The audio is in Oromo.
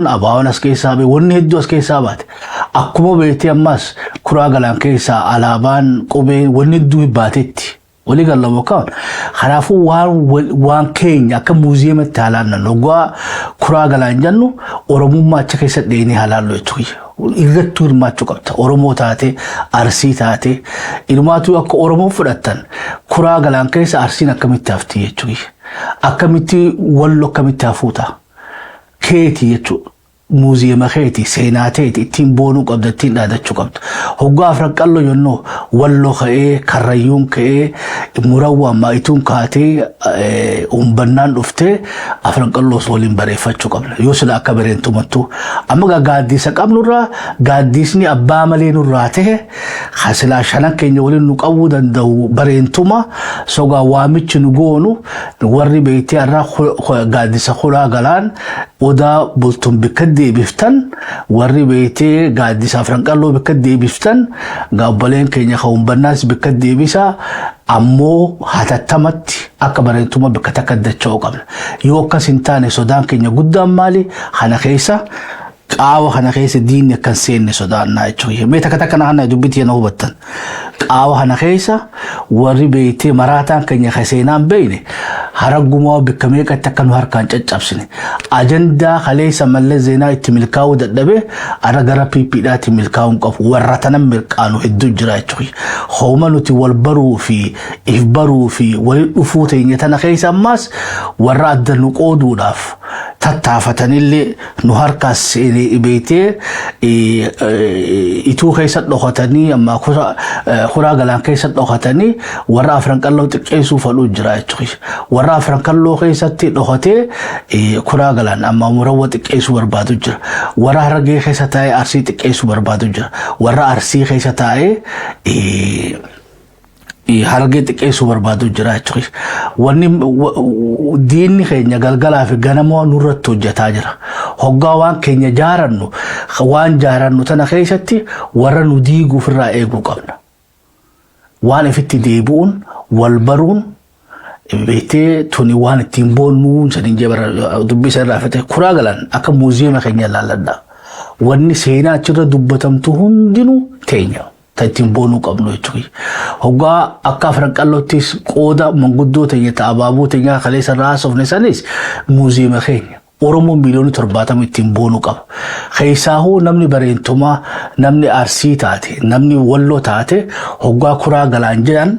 Abaawoon as keessaa ba'e wanni hedduu as keessaa baate. Akkuma beektee ammaas kuraa galaan keessaa alaabaan qubee wanni hedduu baatetti. Walii galla bokkaan. Kanaafuu waan wal- waan keenya akka muuziyeematti haalaan nan dhugaa kuraa galaan jennu Oromummaa achi keessa dheenee haalaan loltu. Irrattuu hirmaachuu qabda. Oromoo taate, Arsii taate, ilmaatuu akka Oromoo fudhattan kuraa galaan keessa Arsiin akkamitti hafti jechuudha. Akkamitti wallo akkamitti hafuuta. keeti jechuu muuziyema keeti seenaa teeti ittiin boonuu qabda ittiin dhaadachuu qabda hoggaa afran qallo jennoo wallo ka'ee karrayyuun ka'ee murawwaan maayituun kaatee eh, umbannaan dhuftee afran qalloos waliin bareeffachuu qabna yoo sila akka bareentumattuu amma gaa gaaddiisa qabnurraa gaaddiisni abbaa malee nurraa ta'e Kan silaa shanan keenya waliin nu qabuu danda'u bareentuma sogaa waamichi nu goonu warri beektee irraa gaaddisa kulaa galaan odaa bultum bikka deebiftan warri beektee gaaddisa afran qalloo bikka deebiftan gaabbaleen keenya kan humbannaas bikka deebisa ammoo hatattamatti akka bareentuma bikka takka dacha'uu qabna. Yoo akkas hin taane sodaan keenya guddaan maali kana keessa Qaawa kana keessa diinni akka hin seenne sodaannaa jechuun kiyya. Mee takka takka na hanna dubbii tiyya na hubattan. Qaawa kana keessa warri beektee maraataan keenya kan seenaa hin beekne haraggumaa bakka meeqatti akka nu harkaan caccabsine. Ajandaa kaleessa mallas zeenaa itti milkaa'uu dadhabee har'a gara PP dhaatiin milkaa'uu hin qabu. Warra tanan mirqaanu hedduu jira jechuun kiyya. Hooma nuti wal baruu fi if baruu fi walitti dhufuu teenya tana keessa ammaas warra adda nu qooduudhaaf tattaafatanillee nu harkaas beeytee ituu keessa dhokatanii ammaa kuraa galaan keessa dhokatanii warra afran qalloo xiqqeessuu fadhuu jira jechuudha. Warra afran qalloo keessatti dhokatee kuraa galaan ammaa murawwa xiqqeessuu barbaadu jira. Warra harargee keessa taa'ee arsii xiqqeessuu barbaadu jira. Warra arsii keessa taa'ee Harargee xiqqeessuu barbaadu jira jechuudha. Wanni diinni keenya galgalaa fi ganamoo nurratti hojjetaa jira. Hoggaa waan keenya jaarannu waan jaarannu tana keessatti warra nu diiguuf irraa eeguu qabna. Waan ifitti deebi'uun wal baruun hin beektee tuni waan ittiin boonnuu saniin jee bara dubbii isa irraa fite kuraa galan akka muuziyeema keenya ilaalladha. Wanni seenaa achirra dubbatamtu hundinuu teenya ta ittiin boonuu qabnu jechuudha. Hoggaa akka afran qalloottis qooda manguddoo teenya ta abaaboo teenya kaleessa irraa haasofne sanis muuziyeema keenya. Oromoo miiliyoona torbaatama ittiin boonuu qaba. Keessaahuu namni bareentumaa, namni arsii taate, namni walloo taate hoggaa kuraa galaan jedhan